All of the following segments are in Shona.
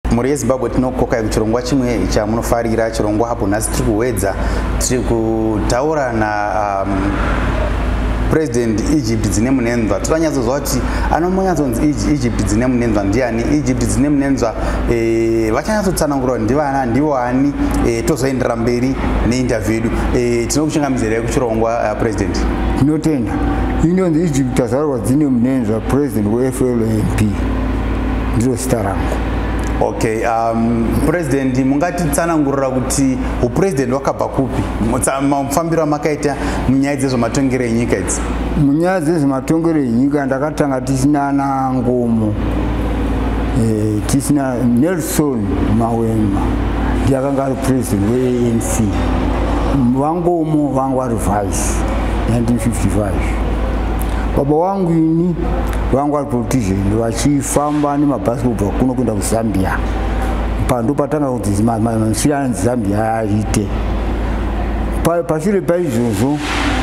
mhuri yezimbabwe tinokokai kuchirongwa chimwe chamunofarira chirongwa apo nhasi tiri kuwedza tiri kutaura na um, president egypt dzine munenzwa tiranyatsoziva kuti anomonyatsonzi egypt dzine munenzwa ndiani egypt dzine munenzwa eh, vachanyatsotsanangura kuti ndivana ndivo ani eh, tozoendera mberi neinterview yedu eh, tinokuchingamidzirei kuchirongwa president tinotenda inonzi egypt azarwa dzine munenzva president weflmp ndiro zita rangu okay um, president mungatitsanangurira kuti upresident wakabva kupi mafambiro amakaita munyaya dzezvematongero enyika idzi munyaya dzezvematongero enyika ndakatanga tisina ana ngomo e, tisina nelson mawema ndiakanga ari president weanc vangomo vangu ari vice 1955 baba wangu ini vanga vari politician vachifamba nemabhasi kubva kuno kuenda kuzambia pando patanga kuti mansira anzi zambia aite pashure paizvozvo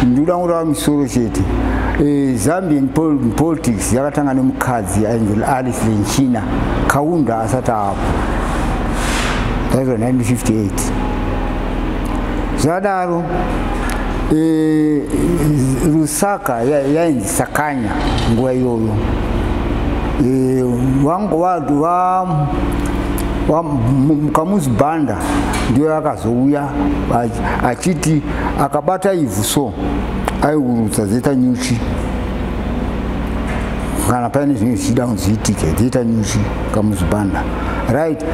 ndikuda kurava misoro chete eh, zambian politics yakatanga nemukadzi ainzi alice lenchina kaunda asati apo that was 1958 zvadaro e, rusaka yainzi ya sakanya nguva iyoyo e, vanga vati va mukamuzi bhanda ndiyo akazouya achiti akabata ivhu so aiurutsa zeta nyuchi kana paine zvinenge zvichida kunzi zviitike zeta nyuchi kamuzi bhanda right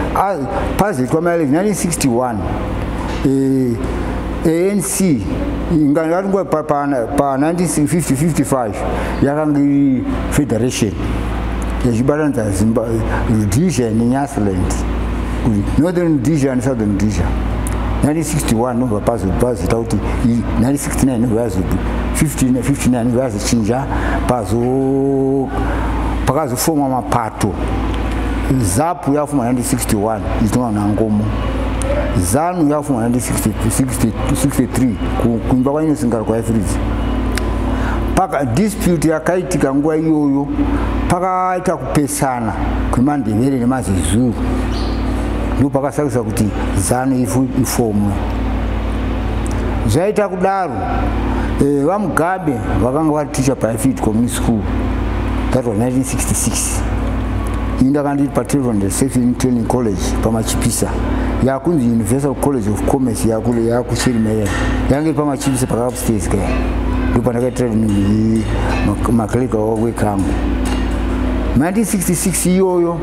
pazetwa maile 1961 eh, anc ingaringa pa1955 yakanga iri federation yachibatanidza rhodesia nenyasland northern rhodesia nesouthern rhodesia 1961 nobva pazozita kuti 1969 nobva yazo 59 nobva yazochinja pazo pakazofomwa mapato to zapu yafu 1961 ichitongwa nangomo zanu yafu 1963 kuimba kwainosingara kwaifridzi paka dispute yakaitika nguva iyoyo pakaita kupesana kwemandevere nemazezuru ndo pakasakisa kuti zanu ifu ifomwe zvaita kudaro Eh, vamugabe vakanga vari teacher paifit community school that was 1966 ini ndakandiri patrevond safing training college pamachipisa yakunzi universal college of commerce yakule yakuchirimerera yange iri pamachipisa pakaupstairs kaya ndo pandakaitira maclika wekangu 1966 iyoyo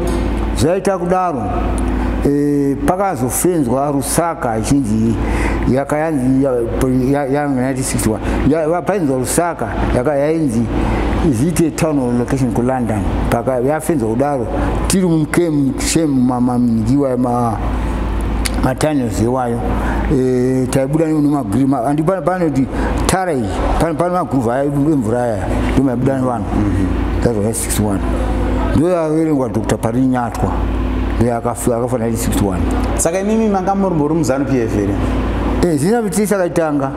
zvaita kudaro e, pakazofenzwa rusaka ichinzi yakayanzi ya, painzwa rusaka yakayainzi is it a town or location ku london paka yafenza kudaro tiri mukemu shem mamamnikiwa ma matunnels iwayo e, taibuda nemagri andi pane kuti tara iyi pane maguruva aya emvura aya ndomaibuda nevanhu mm-hmm. that's why 61 ndoyaverengwa dr parinyati uyo akafa akafa 1961 saka imimi manga muri muri muzanu pf here eh zina kuti sakaitanga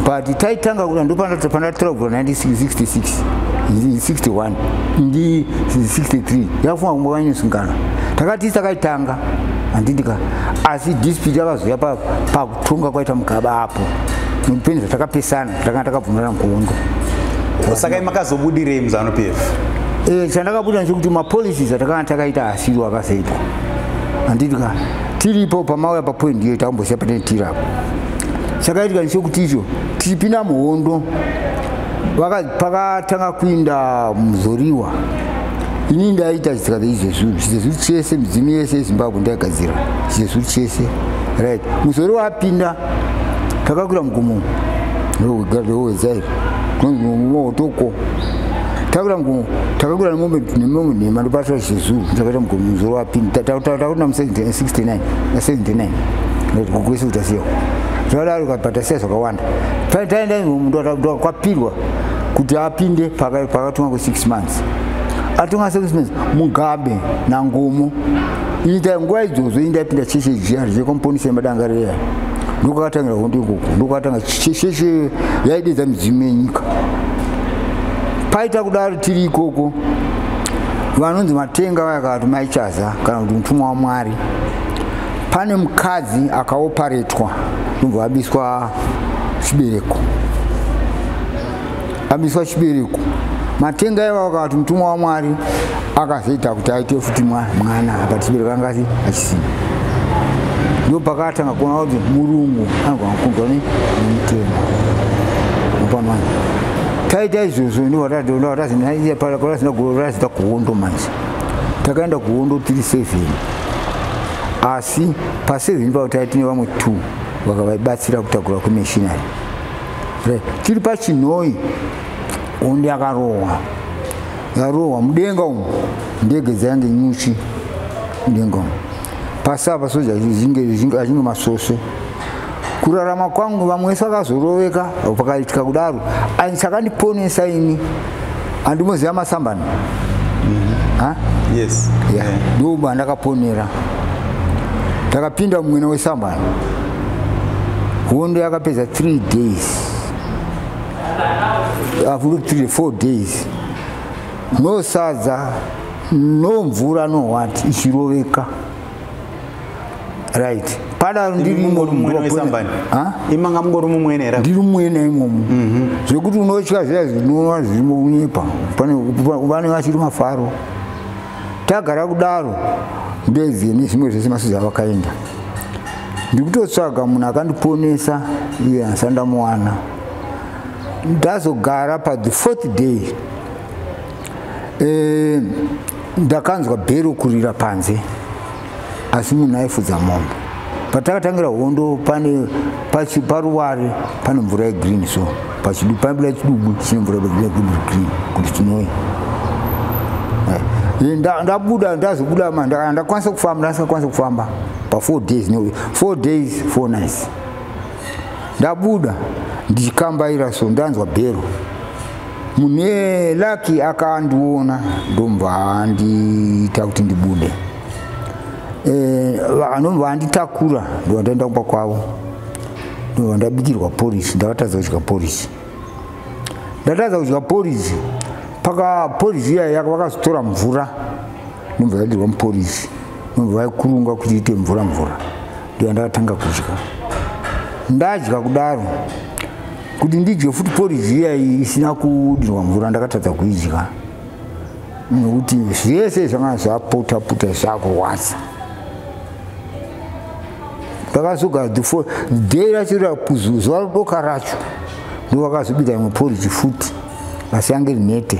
but taitanga kuna ndo pana pana 12 1966 61 ndi 63 yafunga kumwe vanyu singana takati sakaitanga andindika asi dispute yakazouya pa pa Tunga kwaita mugaba apo. Mupini zvatakapesana, takanga takabvumirana kuhondo. Saka makazobudirei muzano PF? Eh, chandakabuda ndechekuti mapolicies atakanga takaita asiwo akasaitwa. Handiti ka tiripo pamauya papoint iyo takamboziva patine tiri apo. Chakaitika ndechekuti icho tichipinda muhondo pakatanga kuinda muzoriwa ini ndaita chitsika cheizvezvuru chizvezvuru chese midzimu yese yezimbabwe ndaigadzira chizvezvuru chese right musori wapinda takakura mugumo ndowezairi kunozimotoko takura mugumo takakura nemombe nemombe nhema ndopasira chizvezvuru takaita mugumo musori wapinda takuna mu 69 na 79 kukwese kutasiyawo zvadaro kapatasiya zvakawanda taenda mundu kwapirwa kuti apinde pakatumwa ku 6 month atonga sekusines mugabe nangumo ita nguva idzodzo inda yapinda cheche jiya richekomponisa yemadangarira ndokwakatangira hondo ikoko ndokwakatanga cheche yaidedza midzimu yenyika paita kudaro tiri ikoko vanonzi matenga vayakati maichaza kana kuti mutumwa wamwari pane mukadzi akaoparetwa ndobva abiswa chibereko Abiswa chibereko. Matenga eva wakati mutumwa wa Mwari akazoita kuti aite futi mwana apa chibereko angati achisina. Ndipo pakatanga kuona kuti murungu anogona kukunzwa ne mutemo. Mupano taita izvozvo ndivo vatazinagorazita kuhondo manje takaenda kuhondo tiri seven asi paseven pavo taitine vamwe two vakavaibatsira kutakura kumishinari tiri pachinhoi hondi yakarohwa yarohwa mudenga umu ndege dzainge nyuchi mudenga umu pasava soja achinge masvosve kurarama kwangu vamwe vese vakazoroveka pakaitika kudaro ani chakandiponesa ini Andi moziva masambani? Mhm. Ha? Yes. Yeah. Ndiwo yeah. ndakaponera. Takapinda mumwena wesambani. Hondo yakapedza 3 days. I've looked 3 4 days. No sadza, no mvura, no what, ichiroveka. right pada ndiri mumwe mumwenesambani imanga mungori mumwene here ndiri mumwene imomo mhm. zvekuti unotya zviya zvinova zvirimo kunyepa pane vachiri mafaro tagara kudaro ndoezie nezvimwe zvese masuzi avakaenda ndikutotsvaga munhu akandiponesa iye asi andamuwana ndazogara pathe fourth day eh, ndakanzwa bhero kurira panze asi munhu aifudza mombe patakatangira hondo pane paruware pane mvura yegreen so pachidupabuda chidubu chine mvura green kuti chinoi eh, ndabuda ndazobuda ma ndakwanisa kufamba ndasakwanisa kufamba pafour days no four days four nights ndabuda ndichikambaira so ndanzwa bhero mune laki akandiona ndomva andiita kuti ndibude eh, anomva anditakura ndova ndaenda kumba kwavo ndova ndabikirwa porisi ndakatadza kudya porisi ndatadza kudya porisi paka porisi iya yaka vakazotora mvura nomva yadirwa muporisi nomva vaikurunga kuti iite mvura mvura ndoda ndakatanga kudya ndadya kudaro kuti ndidye futi poriji iya isina kudirwa mvura ndakatadza kuidya nokuti zvese zvanga zvapota pota zvakurwadza ndakazogara thefo day racho rakuzuva rodoka racho ndovakazobika imwe poriji futi asi yange rinete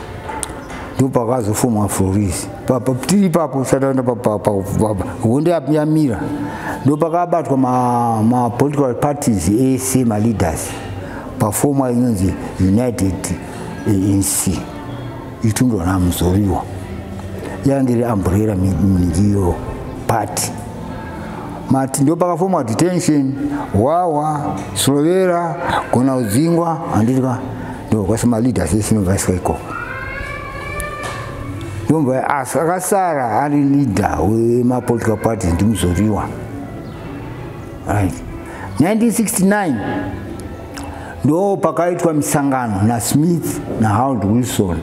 ndopakazofumwa florisi tiri ipapo sataenda hondo yamira ndopakabatwa mapolitical parties ese maleaders pafoma inonzi united anc eh, itundwa namuzoriwa yange iri amburera mingiyo party mati ndo pakafomwa detention wawa slovera gona udzingwa handiti ka ndo kwasi maleader sese novaiswa ikoko ndomva asi akasara ari leader wemapolitical parties ndimuzoriwa right 1969 ndo pakaitwa misangano nasmith naharold wilson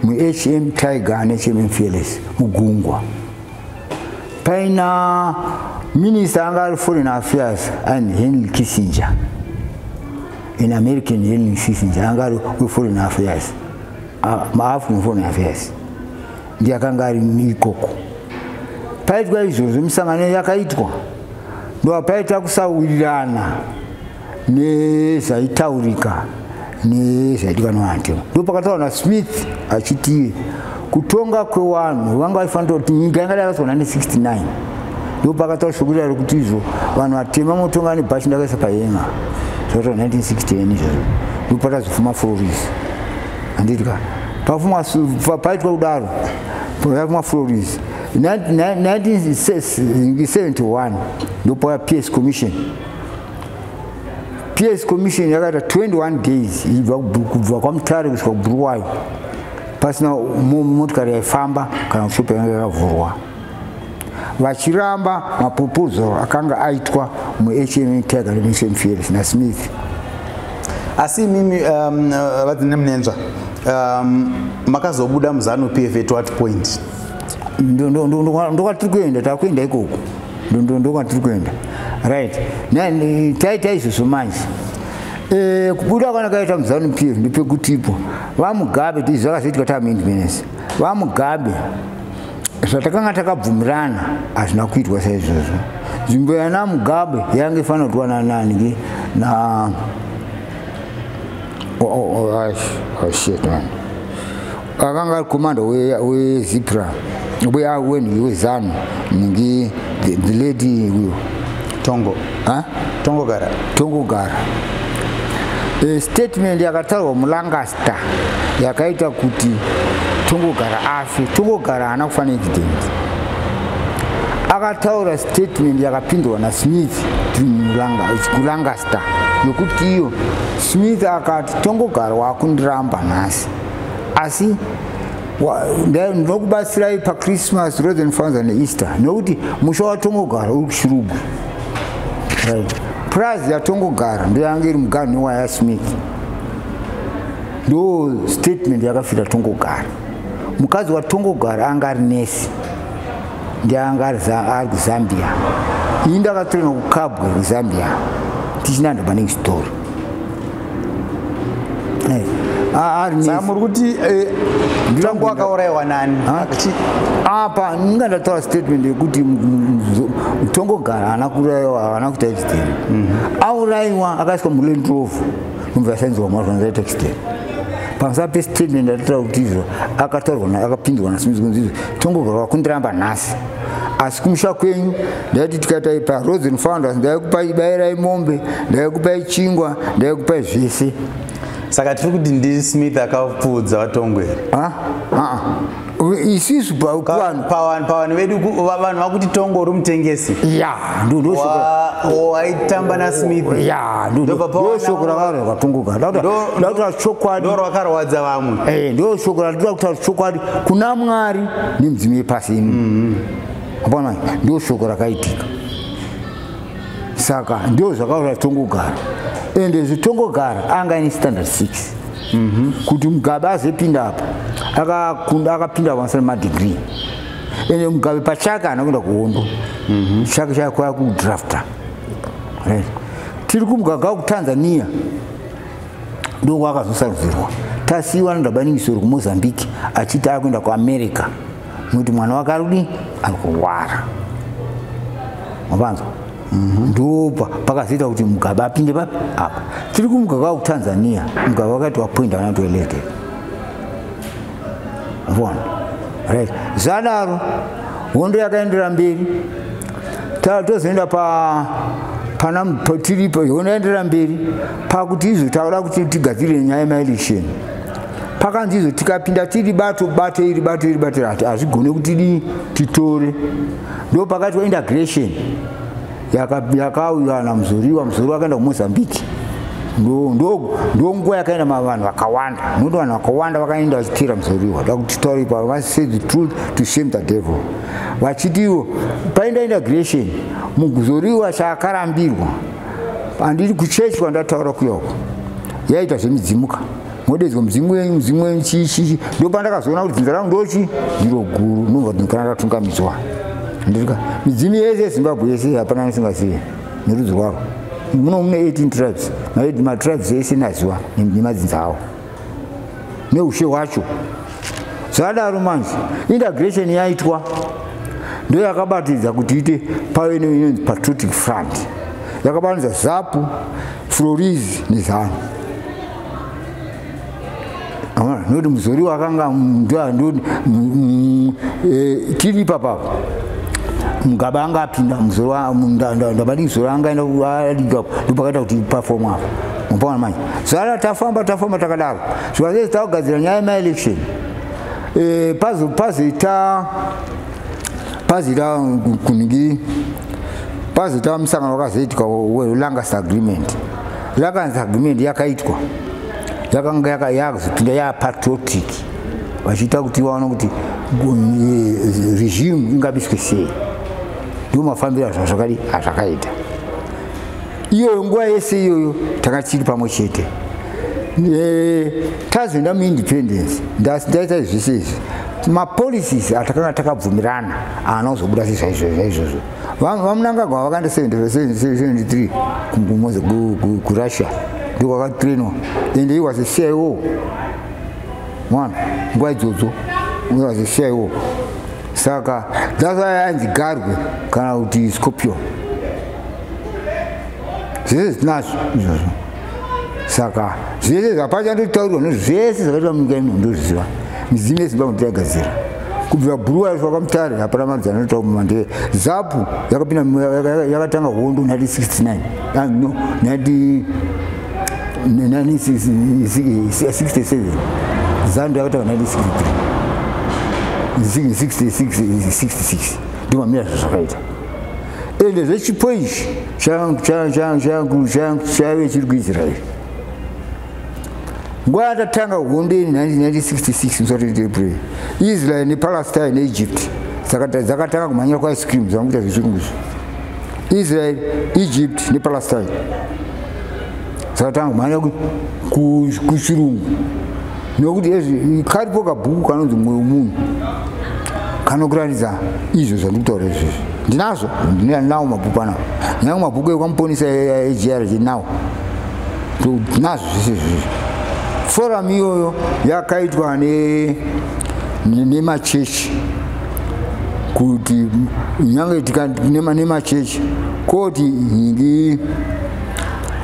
muhm tiger nehm fearless mugungwa paina minista anga ari foreign affairs and henry kissinger in american henry kissinger anga ari weforeign affairs maafrican foreign affairs ndiye akanga ari ikoko paitwa izvozvo misangano yakaitwa ndoapaita kusawirirana nezvaitaurika nezvaidiwa nevanhu ndo pakataura nasmith achiti kutonga kwewanhu vanga vaifanira kuti nyika yanga dakaiswa 1969 ndo pakataura shoko rirari kuti izvo vanhu vatema motonga nebhashi ndakaisa payenga zvakataa 1969 izvozvo ndo patazofuma floris andidika pafumwa paitwa kudaro pafumwa floris 1971 ndopaya ps commission ps commission yakaita 21 days ibva kubva kwamutare kusvika kubhuruwayo pasina motikari yaifamba kana kushopa yanga yakavhurwa vachiramba maproposal akanga aitwa muhma tiger remission fiels nasmith asi imimi um, uh, vadzine munenzva um, makazobuda muzanu pf at what point ndokwatiri kuenda takuenda ikoko ndondondo ndokwatiri kuenda right taita izvozvo manje eh, kubuda kana kaita muzanu pir ndipekutipo vamugabe izvi zvakazoitika taamendmenesi vamugabe zvatakanga takabvumirana hazvina kuitwa saizvozvo nzvimbo yana mugabe yange ifanira kutiwa nanani ke na oh, oh, oh, shit man akanga ari komanda wezipra uya wenhu wezanu ningi the lady uyo tongo tongo gara tongo gara e, statement yakataurwa mulangaster yakaita kuti tongo gara afe tongo gara haana kufanira incident akataura statement yakapindwa nasmith kulangaster yokuti iyo smith akati tongogara wakundiramba nhasi asi ndinokubatsirai pachristmas rosen fanza neaster nokuti musha watongogara uri kushirugwi right prize yatongogara ndoyanga iri muganhu newaya smith ndo statement yakafira tongogara mukadzi watongogara anga ari nesi ndianga ari kuzambia ini ndakatorena kukabwa kuzambia tichinanda maningi story saka muri kuti eh, tangu akaurayiwa nani apa ndinga ndataura statement yekuti mutongogara haana kuurayiwa haana kuita accident mhm. aurayiwa akaiswa mulentrovu nobva yasainzwa mwana zvanazaita accident pamusana pestatement yatataura kuti izvo akataurwa akapindurwa nasmith kunzi izvo tongogara wakundiramba nhasi asi kumusha kwenyu ndaiti tikadai parozen founders ndaikupai bairai mombe ndaikupai chingwa ndaikupai zvese saka tiri kuti ndi smith akapfuudza vatongweri ah, ah. isisu pavanhu vedu vanhu vakuti tongo uri mutengesi ya ndondoaitamba nasmith ya ndosoko rakaro rakatongoka ndakutaura chokwadi ndo rwakarwadza vamwe eh, ndo soko randinoda kutaura chokwadi kuna mwari nemudzimu yepasi ino mm-hmm. hapana ndio shoko rakaitika saka ndio zvakaura zvitongogara ende zvitongogara anga ini standard six mm -hmm. kuti mugabe azepinda apa akakunda akapinda vansana madegree ende mugabe pachake ana kuenda kuhondo mm -hmm. chake chake kwaya kudrafta right. tiri kumugaga kutanzania ndokwakazosarudzirwa tasiiwa nadabaningisoro kumozambique achiti akuenda kuamerica nokuti mwana wake ari kudii ari kurwara mapanzwa mhm. ndopa pakazoita kuti mugabe apinde papi apa tiri kumugaka wa kutanzania mugabe wakaiti wapoinda vana toilete vona right zvadaro hondo yakaendera mberi tozoenda pa pana tiripo hondo yaendera mberi pakuti izvo tauda kuti tigadzirire nyaya yemaelection pakanzi izvo tikapinda tiri bato bato iri bato iri bato rati hazvigone kuti dii titore ndo pakati waintegration yakauya namuzoriwa muzori wakaenda kumozambique ndonguva yakaenda mavanhu vakawanda noti vanhu vakawanda vakaenda vachitira muzoriwa da kuti tauri pa vasay the truth to shame the devil vachitiwo paenda integration muzoriwa chaakarambirwa handiri kuchurch kwandataura kuyoko yaita zvemidzimuka modeedzwa mudzimu wenyu mudzimu wenyu chii chii ndopandakazoona kuti dzinza rangu ndochi ndiro guru ndinobva ndinkana ndatungamidzwa ndirika midzimu yese yezimbabwe yese hapana anisingazive nerudzi rwaro muno mune 18 tribes matribes ese naziwa nemadzinza awo neushe hwacho zvadaro manje integration yaitwa ndo yakabatidza kuti ite pave neinonzi patriotic front yakabatidza zapu floriz nezanu nekuti muzori wakanga e, tiri papapo mugaba anga apinda muzorndabadi muzori anga aenda kualigapo ndopakaita kuti pafomu apo mupona manje zara tafamba tafamba takadaro zvikanzei takugadzira nyaya yemaelection e, pazita pazita kunhingi pazita musangano wakazoitika welangas agreement yakanzi agreement yakaitwa yakanga yakazopinda yapatriotic vachiita kuti vaona kuti eh, regime ingabiswe sei ndo mafambiro azvazvakadi azvakaita iyoyo nguva yese iyoyo tanga tichiri pamwe chete eh, tazoenda muindependence ndaita zvese izvi mapolicies atakanga takabvumirana aana kuzobuda sezvaizvozvo vamunangagwa vakanda 73 kurussia ndikwakatrainwa and he was a cio mwana nguva idzodzo he was a cio saka that's why ainzi garwe kana kuti scorpion zvese zvitinazvo izvozvo saka zvese zvapachandotaurwa nezvese zvakaitwa munyika ino ndozviziva midzimu yezimbabwe ndiragadzira kubvira bhuruwa yacho vakamutare hapana mari dzanoita kumuma ndee zapu yakapinda yakatanga hondo 1969 no 1967 zando yakatanga 1966 ndimamira zvazvakaita ende zvechipo ichi chaive chiri kuisraeri nguva yatatanga hondo iyi 1966 musatitebre israel nepalestine neegypt dzakatanga kumhanyira kwaice cream zvamukuita zvechirungu izvo israel egypt nepalestine dzakatanga kumhanya kuchirungu nokuti karipo kabhuku kanonzi mwoyo munhu kanokuratidza izvo zvandiri kutaura izvozvo ndinazvo ndinawo mabhuku anao ndinawo mabhuku ekwamuponisa egrg nawo nazvo zvese izvizvi forum iyoyo yakaitwa nemachechi kuti nyange nemachechi koti ndi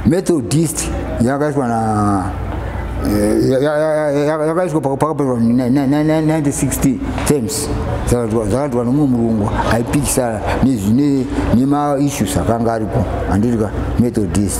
methodist yakaitwa na eh, yakaitwa pakapetwa 1960 terms zakaitwa nomumwe murungu aipikisana nemaissues akanga aripo anditika methodist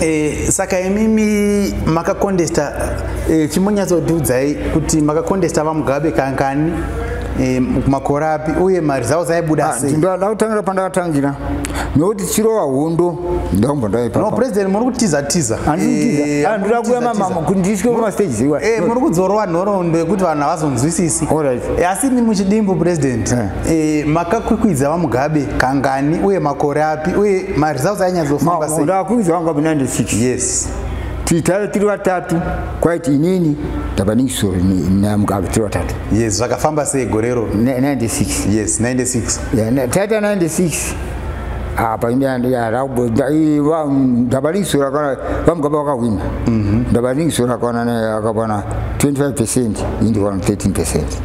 Eh, saka imimi makakondesta eh, chimbonyatsotiudzai kuti makakondesta vamugabe kankani eh, makore api uye maresults aibuda ah, sei ndoda kutangira pandakatangira nokuti chirova hondo ndaumba ndaipano president muri kutiza tiza eh, ah, ndoda kuya mamama kuti ndisvike kumastages iwa eh, muri kudzorova nhoroondo yekuti vanhu havazonzwisisi eh, asi ni muchidimbu president E, makakwikwidza vamugabe kangani uye makore api uye maresults ainyatsofamba sei ndakakwikwidza vamugabe 96 yes titave tiri vatatu kwaiti inini tabaningisoro namugabe tiri vatatu yes zvakafamba sei gorero 96 yes 96 taita 96 apa ndabaningisoro vamugaba vakahwina ndabaningisoro akawana 25 percent indi 13 percent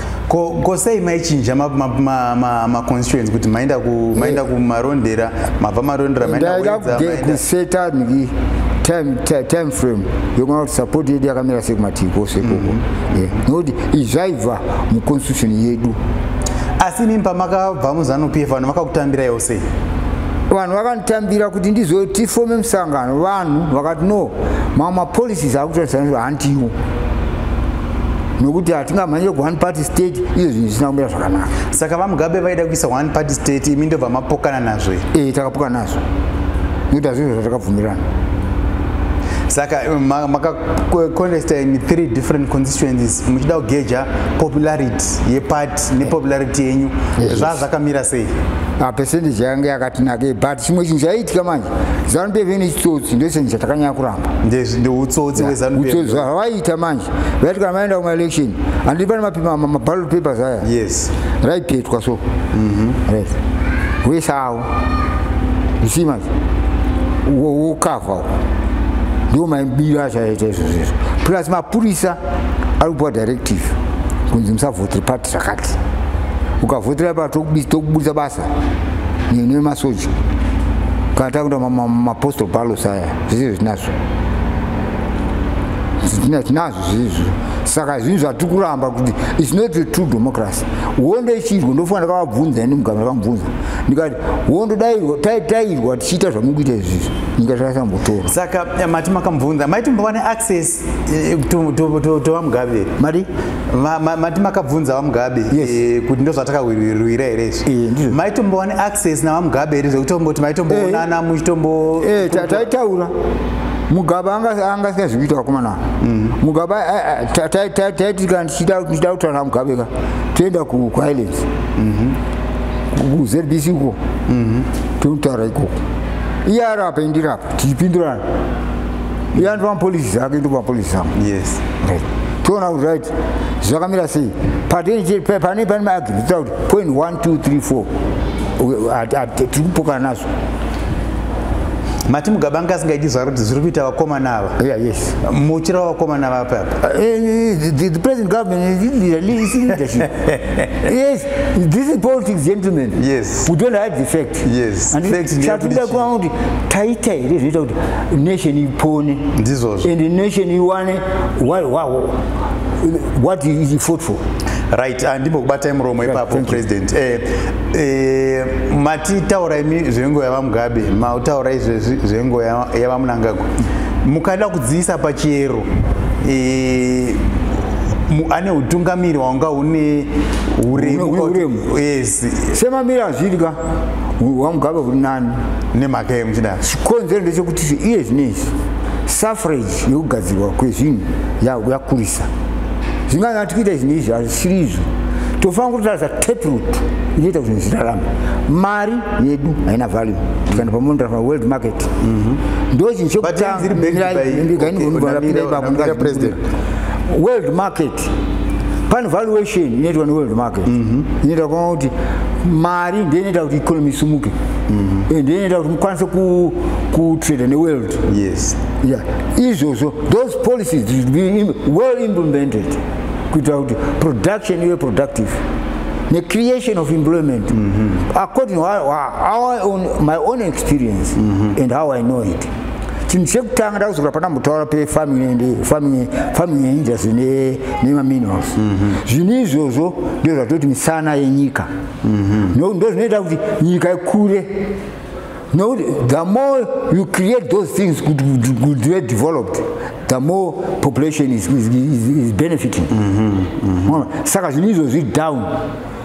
ko ko sei maichinja maconstituents ma, ma, ma kuti maenda ku maenda kumarondera mabva marondera maendakuseta niki time, time, time frame yekuona kuti support yedu yakamira sei kumativi kose ikoko mm-hmm. nokuti izvaibva muconstitution yedu asi mimi pamakabva muzanu p f vanhu vakakutambira yo sei vanhu vakanditambira kuti ndizotifome musangano vanhu vakati no mamwe mapolicies akutoratidza handiwo nokuti hatingamhanye ku one party state izvo zvinhu zvisina kumira zvakanaka saka vamugabe vaida kuisa one party state imi ndobva mapokana nazvo e takapokana nazvo nokuti hazvizvo zvatakabvumirana saka eh, makacontesta ma, in three different constituencies muchida kugeja popularity yeparty nepopularity yenyu zva zvakamira sei apercentage ah, yange yakatinakei but chimwe chinhu chaiitika manje zanu pevene chitsotsi ndochinhu chatakanyakura ndeutsotsi hwezanupeutsotsi hwavaita manje vaiti kana vaenda kumaelection handi pane maballot papers aya yes raipetwa so mhm. right wese awo isimas wokavha ndiwo maibiro acho aita izvo zvizvo plus mapurisa ari kupiwa directive kunzi musavhotire pati zvakati ukavhotera pa tokuburitsa basa nemasoja kana takuita mapostal ballos aya zvizivi zvinazvo tinazvo zviizvo saka zvinhu zvatiri kuramba kuti its not a true democracy hondo ichiirwa ndofunga ndakavabvunza ini mugama vakamubvunza ndikati hondo taitairwa tichiita zvamuri kuita izvizvi nyika zvakasambotora saka eh, mati makambvunza maiti mbova neaccess Eh, tova mugabe mari mati makabvunza vamugabe eh, kuti ndozvatakawirwira here izvi eh, maitombowane access navamugabe here zvekutongoti maitomboonana muchitombo taitaura mugabe anga asingazi kuita vakomana mm. mugabe taitika ndichida kutaura namugabe ka toenda kuislands mhm. kuzbc uko mhm. tonotaura ikoko iye ari apa indirapa tichipindurana iye andipa mapolisi zake ndopa mapolisi zangu yes right toona kuti right zvakamira sei patenje pane pane maagi nditaura kuti point one two three four tiri kupokana nazvo mati mugaba anga asingaiti zvaro kuti zviri kuita vakomana ava yeah, yes. muchira wavakomana ava papa uh, eh, eh, eh, the, the present government is leadership yes this is politics gentlemen yes we don't hide the fact yes chatida kuva kuti taita here zvinoita kuti nation ipone ndizvozvo and nation iwane what is fought for right handimbokubatai ah, muromo ipapo president eh, eh, matitaura imi zvengo yavamugabe mataura izvezvi zvengo yavamunangagwa mukada kudziisa pachiyero eh, ane utungamiri hwanga une uremu yes semamiri azvidya wamugabe uri nani nemhaka yemuchidaro chikonzero ndechekuti iye zvinezvi suffrage yekugadzirwa kwezvinhu yakurisa zvinganyati kuita izvi neizvi hazvisiri izvo tofanira kutotaridza taproot inoita kuti zvirarama mari yedu haina value tikaenda pamondrafa world market mhm. ndo chinhu chekutanga world market pane valuation inoitwa neworld market mhm. inoita kuona kuti mari ndiyo inoita kuti economy isumuke mhm. eh, ndiyo inoita kuti mukwanise kutrade neworld izvozvo those policies should be well implemented kuitira kuti production ive productive the creation of employment mm -hmm. according to our, our own, my own experience mm -hmm. and how i know it chinhu chekutanga ndakuzokura pana mutaura pefarming and farming farming yeindustry ne nema minerals mhm. zvinhu izvozvo ndizvo zvatoti misana yenyika mhm. no ndo zvinoita kuti nyika ikure no the more you create those things good good good developed the more population is is is, is benefiting mhm. saka zvinhu izvozvi down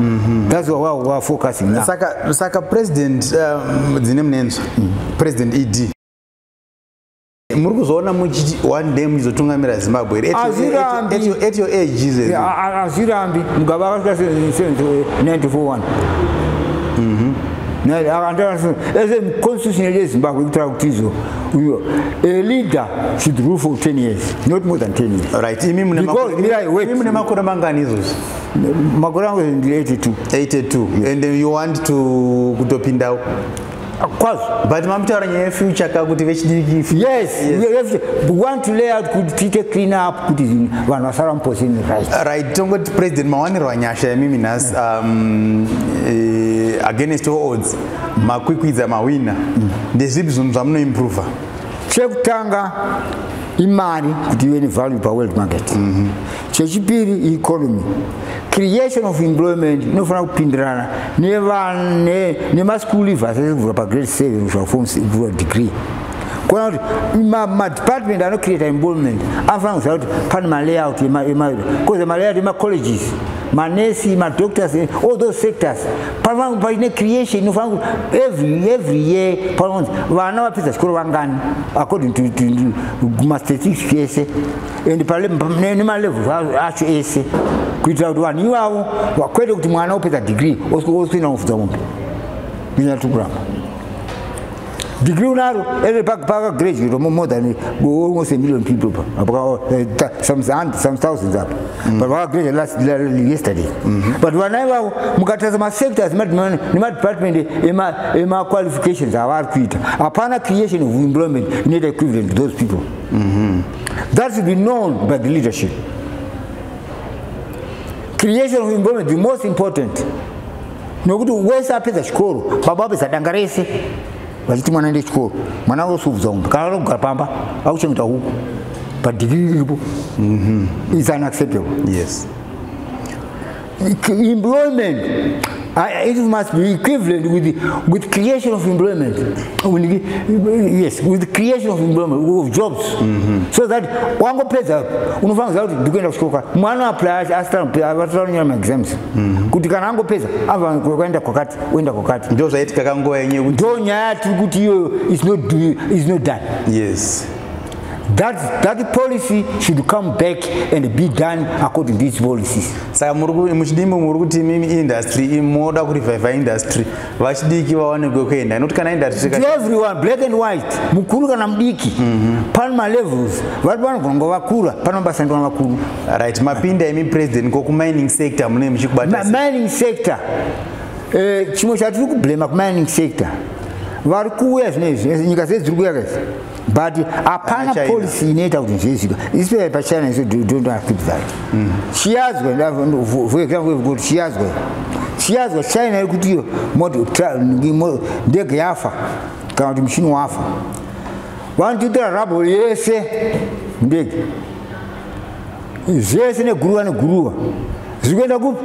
Mm -hmm. That's why we are focusing now. Saka, saka president um, dzine munenzo mm. president ED muri kuzoona muchiti one day muchizotungamira zimbabwe here at your age jesus azvirambi mugaba akasvika 1941 constitution yedu yezimbabwe kutaura kuti izo a leader should rule for 10 years not more than 10 years right imi mune makore mangani izvozvi makore angu ndi 82 82 yes. and you want to kutopindawo kwazi but mamutaura nyaya yefuture ka kuti vechidiki yes we want to lay out kuti tiite clean up kuti vanhu vasara muposini right right tongoti president mawaniro anyasha yemimi nhasi um, eh, against all odds makwikwidza mawina mm. ndezvipi zvinhu zvamunoimprova chekutanga imari kuti ive nevalue paworld market mm -hmm. chechipiri economy creation of employment inofanira kupindirana nemaschool leave asese kuvhura pagrade 7 kusvika form kuvhura degree kuona kuti madepartment anocreata employment anofanira kuziva kuti pane malayout emairo bcause malayout emacolleges manesi madoctors eh, all those sectors panofanira paine creation inofanira kuti every every year panofanira kuti vana vapedza chikoro vangani according to mastatistics ese and nemalevels acho ese kuitira kuti vanhu ivavo vakwete kuti mwana opedza degree osina kufudza mombe kunyanya tiri kuramba degree unaro eve pakagraduate more than almost a million people pa eh, some thousands apa mm. but vakagraduate last yesterday mm-hmm. but vana ivavo mukatarisa masectors nemadepartment emaqualifications avari kuita hapana creation of employment inoita equivalent to those people mm-hmm. That should be known by the leadership. Creation of environment, the most important. Nokuti wese apedza chikoro, baba apedza danga rese, vachiti mwana ende chikoro, mwana vosuvudza umba, kana vanogara pamba, vakuchengeta huku, padigiri riripo, mm -hmm. it's unacceptable. Yes. employment uh, it must be equivalent with the, with creation of employment yes with creation of employment of jobs mm -hmm. so that wangopedza unofanira kuti ndikuenda kuchikoro mwana apply asitanyora maexams mhm. kuti kana angopedza avaenda kwakati oenda kwakati ndo zvaitika kanguva yenye ndo nyaya tiri kuti iyoyo is not done yes That, that policy should come back and be done according to its policies. Saka muchidimbo muri kuti mimi industry moda ku revive industry vachidiki vawanekwe kuenda not kana industry ka everyone black and white mukuru kana mudiki mm -hmm. pan ma levels vari pano gongo vakura pano basa ndona vakuru right mapinda imi president ko ku mining sector mune muchikubata mining sector eh chimwe chatiri ku blame ku mining sector vari kuuya zvinezvi nyika dzedzi dziri kuuya kazi but hapana policy inoita kuti zvezvika especially pachina isu don't accept that mm. chiyazwa for example we've got chiyazwa chiyazwa china yekuti iyo ndege yafa kana kuti muchini wafa vanotiitira rabo yese ndege zvese neguruva neguruva zviri kuenda kupi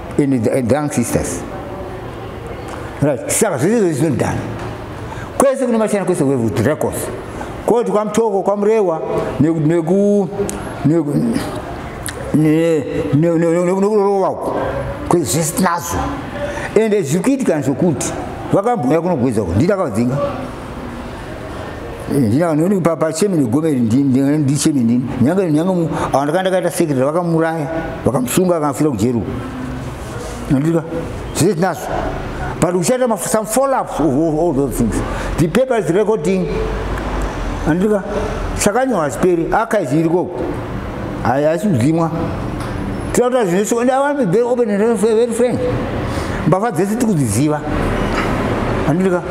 in the eh, drunk sisters right saka zvese izvozvi zvinodana kwese kune machina kwese kwevudracos koti kwamutoko kwamurewa neku nekurova uko kwese zvese tinazvo ende zviri kuitika zvokuti vakambouya kunogwedza uko ndita kavadzinga ndina noni pa pa chemi ni gomeri ndi ndi ndi chemi ndi nyanga nyanga mu awanda kanda kata secretary vakamuraya vakamsunga akafira kujeru ndika zvizi nazo but we share some follow ups of all, all those things the paper is recording ndika sakanywa speri akazi iriko hayi asi kudzimwa tinotaura zvine shoko ndavambe very open and very frank mbavha dzese tikudziziva andirika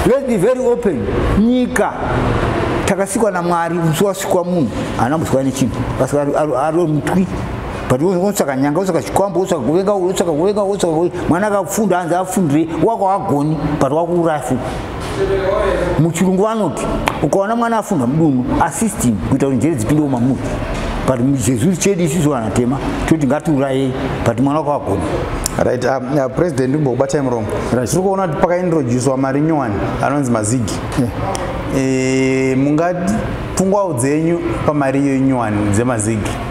let be very open nyika takasikwa namwari musi wasikwa munhu haana kusikwa nechinhu asi ari mutwi but wotsaka nyanga wotsaka chikwambo wotsaka kuvenga wotsaka kuvenga wotsaka mwana akafunda hanzi afundire wako agoni but wakuuraya futi muchirungu vanoti ukaona mwana afunda mudunhu assisting kuita kuti njere dzipindewo mamuri but chezuri chedu isisu vana tema toti ngatiurayei but mwana wako agona right um, uh, president imbokubatai muromo right. tiri kuona kuti pakaintroducewa mari nyowani anonzi mazigi yeah. e, eh, mungapfungwawo dzenyu pamari iyo inyowani dzemazigi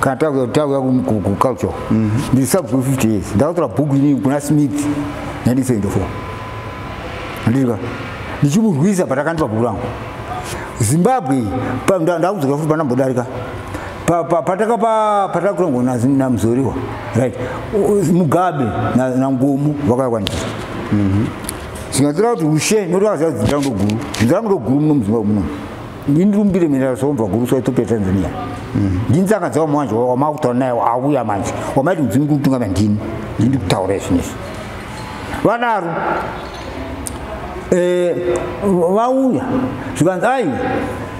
kana tauya tauya kuculture mhm. ndiri sub 50 years ndakatora book ini kuna smith 1974 andika ndichimurwisa patakandipa bhuku rangu zimbabwe ndakudzoka futi pandambodarika patakakurangwa namuzoriwa right mugabe nangomu vakakwanisa mhm. zvingatora kuti ushe notoakaziva kuti dzinza rangu ndoguru dzinza rangu ndoguru muno muzimbabwe munomu ndindirumbire mina zvaumva guru so ethiopia tanzania mm. ndinzanga dzavo manje wamakutaura naye auya manje wamaiti mudzimu kuri kutungamira ndini ndindi kutaura izvinizvi vadaro eh, vauya zvikanzi ai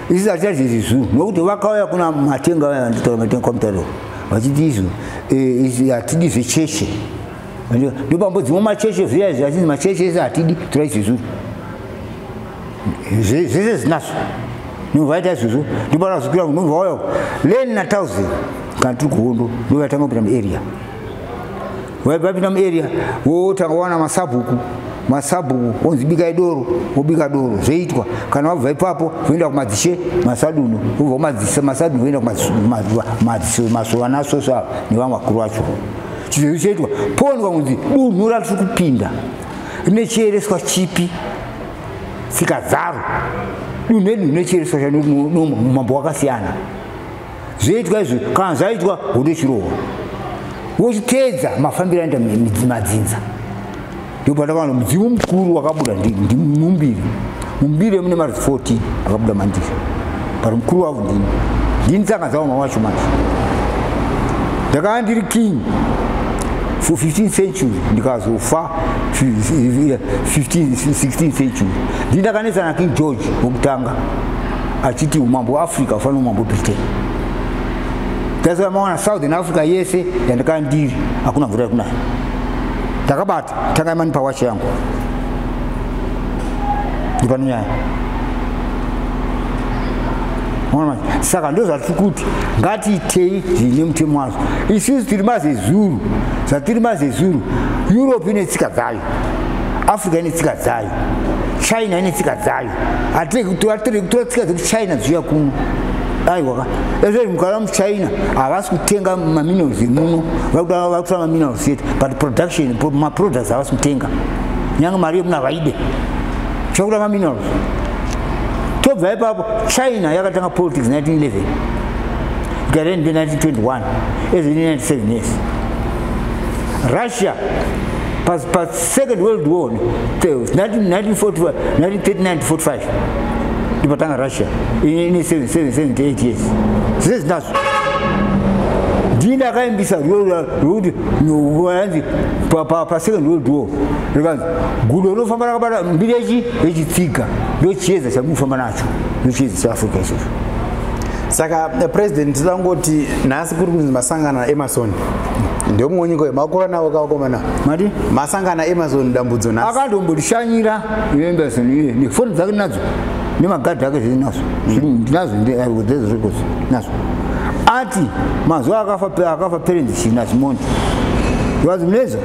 isi hatichazvizi zuu nokuti vakauya kuna matenga vaya vanditaura matenga kwamutairo vachiti izvo eh, hatidi zvecheshe ndopambo dzimwe macheshe zviya izvi achinzi macheshe ese hatidi tora izvezuru zvese zinaso ndovaita izvozvo ndobanazokwira ndobva wauya len natausi kana tiri kuhondo ndovatanga kupinda muarea vaipinda muarea wotanga wana masabhuku masabhuku onzi bikai doro wobika doro zvoitwa kana wabva ipapo voenda kumadzishe masadunhu wobva kumadzise masadunhu voenda kumadzisemasovanasvosvo ava nevamwe vakuru vacho chizvezvi choitwa pondwa kunzi dunhu ratiri kupinda rine chiereswa chipi tsika dzaro dunhu edu rinochereswa chanomambo wakasiyana zvoitwa izvo kana zvaitwa wotochirohwa wochiteedza mafambiro aenda madzinza ndopatakanwa mudzimu mukuru wakabuda ndimumbiri mumbiri mune marudzi 14 akabuda mandizvo but mukuru wavo ndini ndini saka dzaoma wacho manje ndakava ndiri king for 15 century ndikazofa 15 16 century ndindakanetsa na king george wokutanga achiti umambo hweafrica hufana umambo britain ndasaka mawana southern africa yese yandakaa ndiri hakuna mvura yekunaya ndakabata tangai mani pawacha yangu ndipano nyaya saka ndozvatiri kuti ngatiitei zvine mutemo wazvo isusu tiri mazezuru zvatiri mazezuru europe ine tsika dzayo africa ine tsika dzayo china ine tsika dzayo atiretora tsika dzekuchina dziuya kuno aiwaka ezvei mukara muchina havasi kutenga maminerals emuno vakutora maminerals yet but production maproducts havasi kutenga nyange mari yemuno havaide chakuda maminerals tobva ipapo china yakatanga politics 1911 gareni mbe 1921 ezi 97 years russia pa, pa second world war 1945 ndipatanga russia ine 78 years zvize zinazo ndii ndakaimbisa rwekuti yanzi pasecond world war rikanzi gudo rinofamba rakabata mbiri yechi yechitsiga ndochiedza chamufamba nacho ndochiedza chaafrica ichocho saka eh, president tinoda kungoti nhasi kuri kunzi masangano emasoni ndeumwe nyika uyo makura nawo kawakomana mati masangana amazon dambudzo nhasi akandombotishanyira amazon iye nefoni dzake nadzo nemagadhi ake zviri nazo ndinazo ndezozvikozi nazo ati mazuva akafa akafa parents china simoni vazi muneza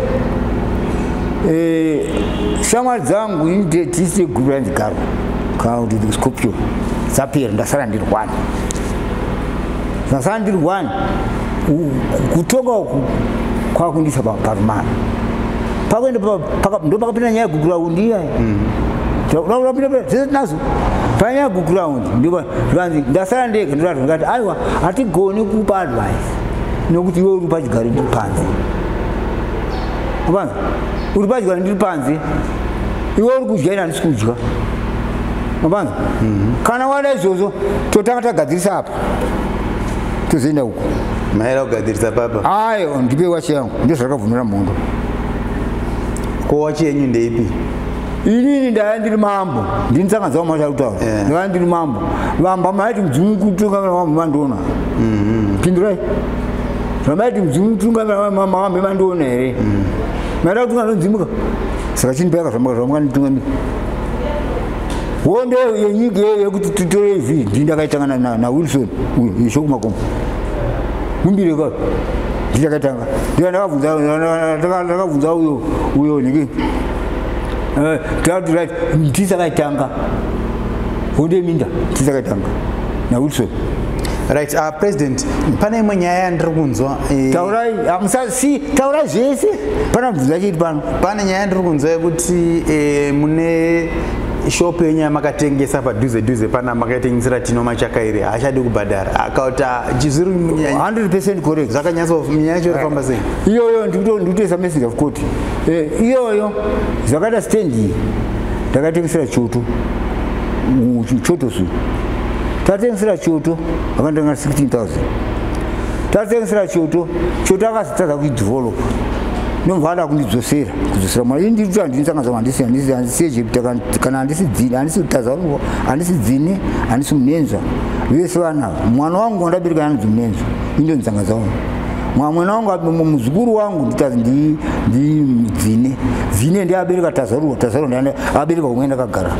eh, shamwari dzangu ini tisi guru randigaro kaunditi scorpion dzapera ndasara ndiri one ndasara ndiri one kutonga uku kwakundiisa parumana pakuenda ndopakapinda nyaya yeguground iya mm. ndapindaenazo panyaya yeguground ndivanzi ndasara ndega ndoratwa ndikati aiwa hatigoni kupa advice nokuti iwe uri pachigari ndiri panze uvanzi uri pachigari ndiri panze iwe uri kudya ini handisi kudya mabanza mhm. kana wada izvozvo totanga tagadzirisa apa tozoenda uko maera kugadzirisa papa ayo ndipe wachi yangu ndozvakabvumira mhondo ko wachi yenyu ndeipi inini ndaya ndiri mambo ndini tsanga dzavo masharutawo ndaya ndiri mambo vamba maiti mudzimu kutungamira mambo mandiona mhm. pindurai vamaiti mudzimu kutungamira mamambe mandiona here mhm. maida kutungamira mudzimuka saka chini payaka zvamuka zvamuka nditungamira hondo yenyika iyoyo yekuti titore izvi ndii ndakaitanga nawilson ishokumakomo kumbire ka ndichakatanga ndika ndakabvunza uyo uyo niki eh, taatirati ndisakaitanga hondo yeminda ndisakaitanga nawilson right uh, president pane imwe nyaya yandiri kunzwa eh, taurai amusasi taurai zvese pana bvunza chiti pano pane nyaya yandiri kunzwa yekuti eh, mune shop yenyu yamakatengesa padhuze dhuze pana makaitengesera tino machaka iri haachadi kubhadhara akauti chizviri 100 percent correct zvakanyatsonyaya yacho irifamba sei iyoyo ndikutoisa message of court eh, iyoyo zvakaita stand iyi ndakatengesera choto choto su tatengesera choto akandianga 16000 tatsengesera choto choto akazotadza kuidevelopa ndobva ada kundidzosera kudzosera mwana ini ndiri andindisangaza handisihandisi egypt kana handisi dzini handisi kutazango handisi dzini handisi munenzva vese vana mwana wangu wandabereka yanzi munenzva indondisangaza wani mwamwena wangu muzukuru wangu nditazi ndi dzine dzine ndi abereka tazarurwa tazarurwa ndi abereka kumwe ndakagara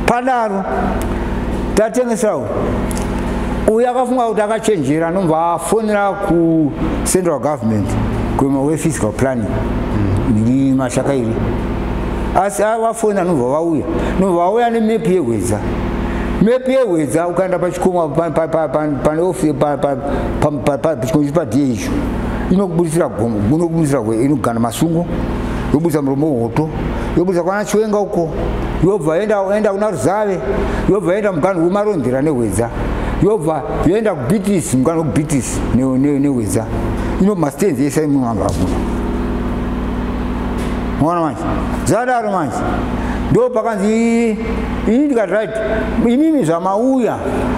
padaro tatengesawo uyo akafunga kuti akachenjera anobva afonera kucentral government kuema wefiscal planning ndiri mashaka iri asi avafoni anobva vauya nobva vauya nemepi yehwedza mepi yehwedza ukaenda pachikomo paneofichikomo padie icho inokubudisira gomo inokubudisira inogana masungo yobudisa muromo woto yobudisa kwana chiwenga uko yobva yoenda kuna ruzave yobva yoenda muganhu wemarondera nehwedza yobva yoenda kubitisi muganhu wekubitisi nehwedza ino mastenzi ese imwe vanhu vakuna mona manje zvadaro manje ndo pakanzi ini ndikati right imimi zvamauya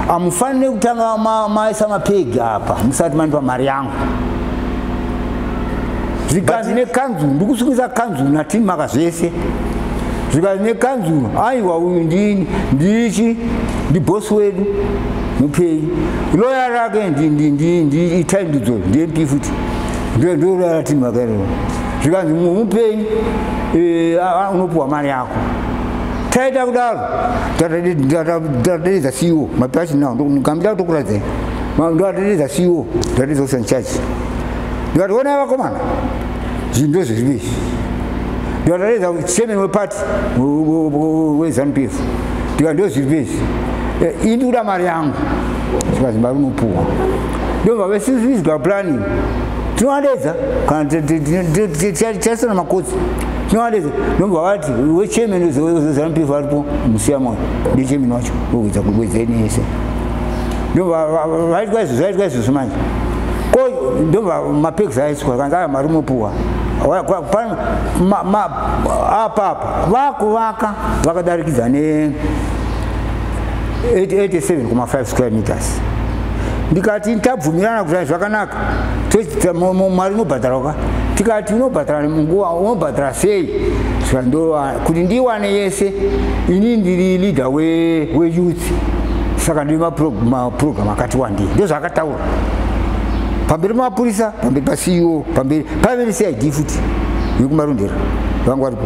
amufanire kutanga maisa mapegi apa musati mandipa mari yangu zvikanzi nekanzuru ndikusungisa kanzuru natin maka zvese zvikanzi nekanzuru aiwa uyu ndini ndichi ndibhosi wedu mupei loya rake itai ndidzo ndiyempi futi ndorara timu akaerewa zvikanzi mupei eh, unopiwa mari yako taita kudaro tataderedza ceo mapasi now ndikambida kutokuradzai ndoaderedza ceo ndoaderedza kusanchachi ndikati onai vakomana zvinhu ndozviripo izvi ndivatareza chairman weparty wezanupf ndika ndozviripo izvi eh, ini ndikuda mari yangu saka zimba rinopuwa ndobva vesizwa planning tinovadeedza kana tichasana makotsi tinovadeedza ndobva vati wechairman wezanupf aripo musiya moyo ndichairman wacho wekuedza kuwedza ini yese ndobva vaitwa izvozvo vaitwa izvozvo manje ko ndo mapegs aiswa kanzi aya mari mopuwa apapa vakuvaka vakadarikidza ne 887 kuma 5 square meters ndikati tabvumirana kuti zvakanaka mari inobhadharwa ka tikati unobhadhara munguva unobhadhara sei zvandowa kuti ndiwane yese ini ndiri leader weyouth we saka ndiri maprogramu akati wandii ndozvaakataura pamberi pamapurisa pamberi paceo pamberi paive necid futi yekumarondera vangu varipo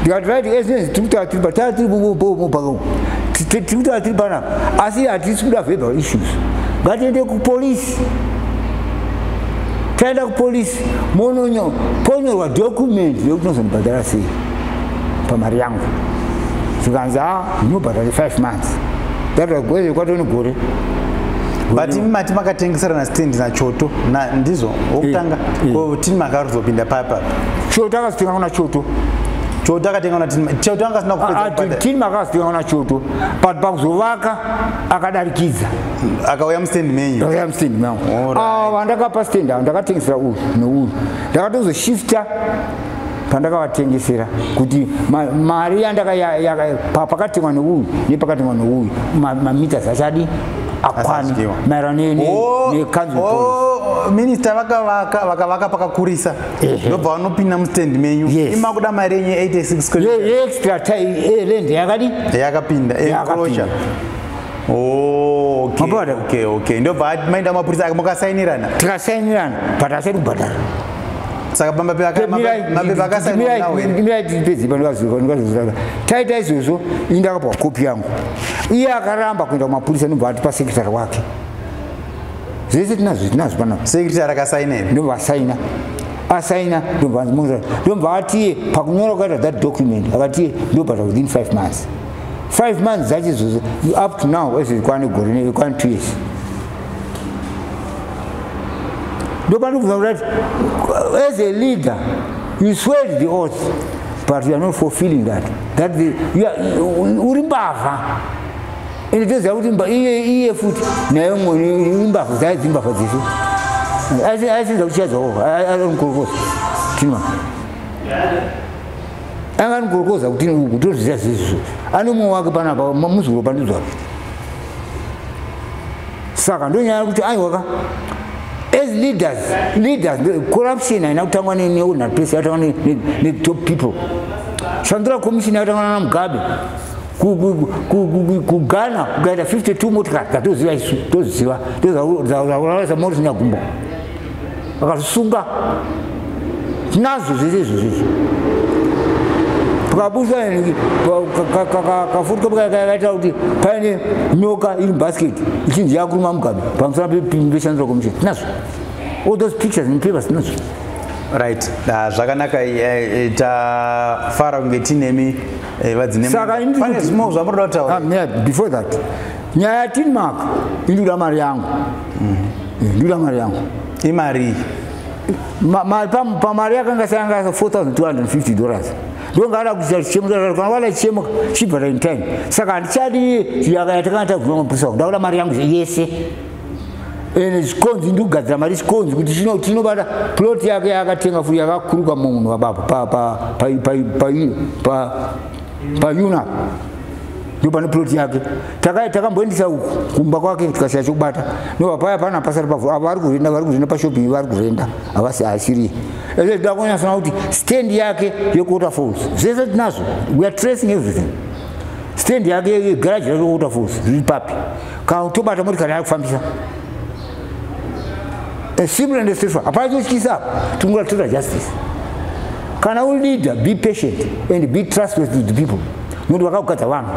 ndikati right esinesi tiri kutaura tiri patara tiri mubhakau tiri kutaura tiri panapa asi hatisi kuda verbal issues ngatiende kupolisi taenda kupolisi mononyo ponyorwa document yekuti nozondibhadhara sei pamari yangu zvikanzi a ah, unobhadhara 5 months datagoe kwatoni gore but imi mati makatengeserana stand nachoto ndizvo wokutanga eh, eh. ko tini makaruzopinda papa choto akazitenga kuna choto choto akatenga kuna tini choto anga asina kupedza tini makazitenga kuna choto but pakuzovaka akadarikidza akauya mustand menyu akauya mustand mangu awa ah, ndakapa stand awo ndakatengesera uyu neuyu ndakatozoshifta pandakavatengesera kuti mari yandakapakatengwa neuyu nepakatengwa neuyu mamita zachadi akwani maerano oh, nekanzl oh, minista vakavaka vakavaka pakakurisa ndobva vanopinda mustand menyu imakuda mari yenyu 86extralend yakadi yakapinda ndobva maenda mapurisa mukasainirana tikasainirana but asiri kubhadhara saka pamba pemapepakasaiaomirai taita izvozvo ini ndakapwa kopi yangu iye akaramba kuenda kumapurisa nobva atipa sekretary wake zvese tinazvo tinazvo panapa sekretary akasaina here ndobva asaina asaina ndobva anzimoza ndobva atiye pakunyora kukaita that document akatiye ndobhata within five months five months dzacho izvozvo up to now ezviri kwane gore nekwane two years ndopanobva kuti as a leader you swelled the oath but you are not fulfilling that that the, you are, uri mbavha ende toziva kuti iye iye futi naye mwene imbavha dzaye dzimbavha dzesu aisenza kuti chadzao anomukorokoza tima anga anomukorokoza kuti tozviziva zvezvo anomwe wake panapa muzukuru pandidzwake saka ndonyaya kuti aiwa ka as leaders leaders corruption haina kutangwa neordinary place yatangwa netop people shandura commission yatangwa nana mugabe kughana kukaita 52 motikari dzatoziva isu toziva tozaurasa moti zvinyagumbo vakazvisunga tinazvo zvese izvozvo izvi pakabusa kafuti kaita kuti paine nyoka iri basket ichinzi yakuruma mugabe pamusana peshandiswa komuchini tinazvo all those pictures and papers tinazvo right ah, zvakanaka eh, eh, tafara kunge tinemi eh, vadzinemane zvimwe zvamuri da kutaura ah, before that nyaya ya tinmark iri kuda mari yangu mm. ndikuda mari yangu imari pamari yakanga sayanga 4250 dollars ndongaada kuita chichemukana wala chichemuka chibva ta intime saka handichadi yaka yatakanga taguma mapusa wangu ndakuda mari yangu yese ene chikonzi ndikugadzira mari chikonzi kuti chino tinobata plot yake yakatenga furi yakakuruka munhu vabapo payuna ndio pane plot yake taka takamboendisa uku kumba kwake tikasiya chokubata no paya pana pasari pavo avo vari kurenda vari kurenda pashopping vari kurenda havasi asiri ese tida kunyasona kuti stand yake yekuota falls zvese tinazvo we are tracing everything stand yake yegaraji rake yekuota falls zviri papi ka tobata motikari yari kufambisa simple and straight hapana chotyisa apo tingoda total justice kana uri leader be patient and be trustworthy to the people nokuti vakakugadzwa vanhu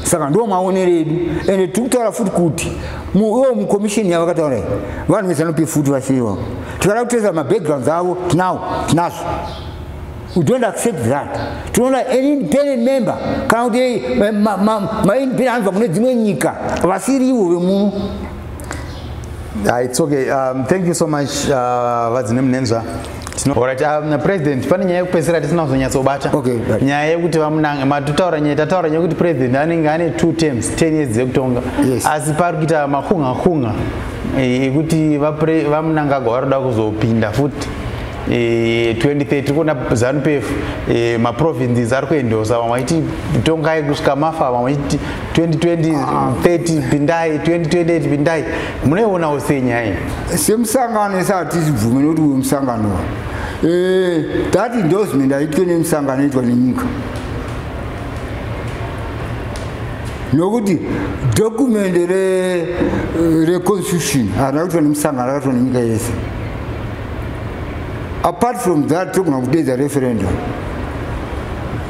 saka ndo maonero edu ende tiri kutaura futi kuti iwo mukomisheni yavo vakataura vanhu vezanope futi vasiriwa tikada kuteza mabackgrounds avo tinawo tinazvo we don't accept that tinoona an independent member kana kuti eh, maindependent anobva kune dzimwe nyika vasiriwo vemuno ah, it's okay um, thank you so much uh, vadzi nemunenzva Alright, um, president pane nyaya yekupedzisira tisina kuzonyatsobata okay, right. nyaya yekuti vamunanga matutaura nyaya tataura nyaya yekuti president anenge ane two terms ten years dzekutonga yes. asi pari kuita makunga kunga eh, yekuti vamunangagwa vari kuda kuzopinda futi 2030 eh, kuona zanupf eh, maprovinces ari kuendosa vamwe vachiti tongai kusvika mafa vamwe vachiti 2020 ah. 30 pindai 2028 pindai munoionawo sei nyaya iyi semusangano ese hatizibvume nokuti uyu musangano eh, that endorsement aitwe nemusangano aitwa nenyika nokuti dokumende reconstitution harina kuitwa nemusangano akaitwa nenyika yese apart from that togona kudeedza referendum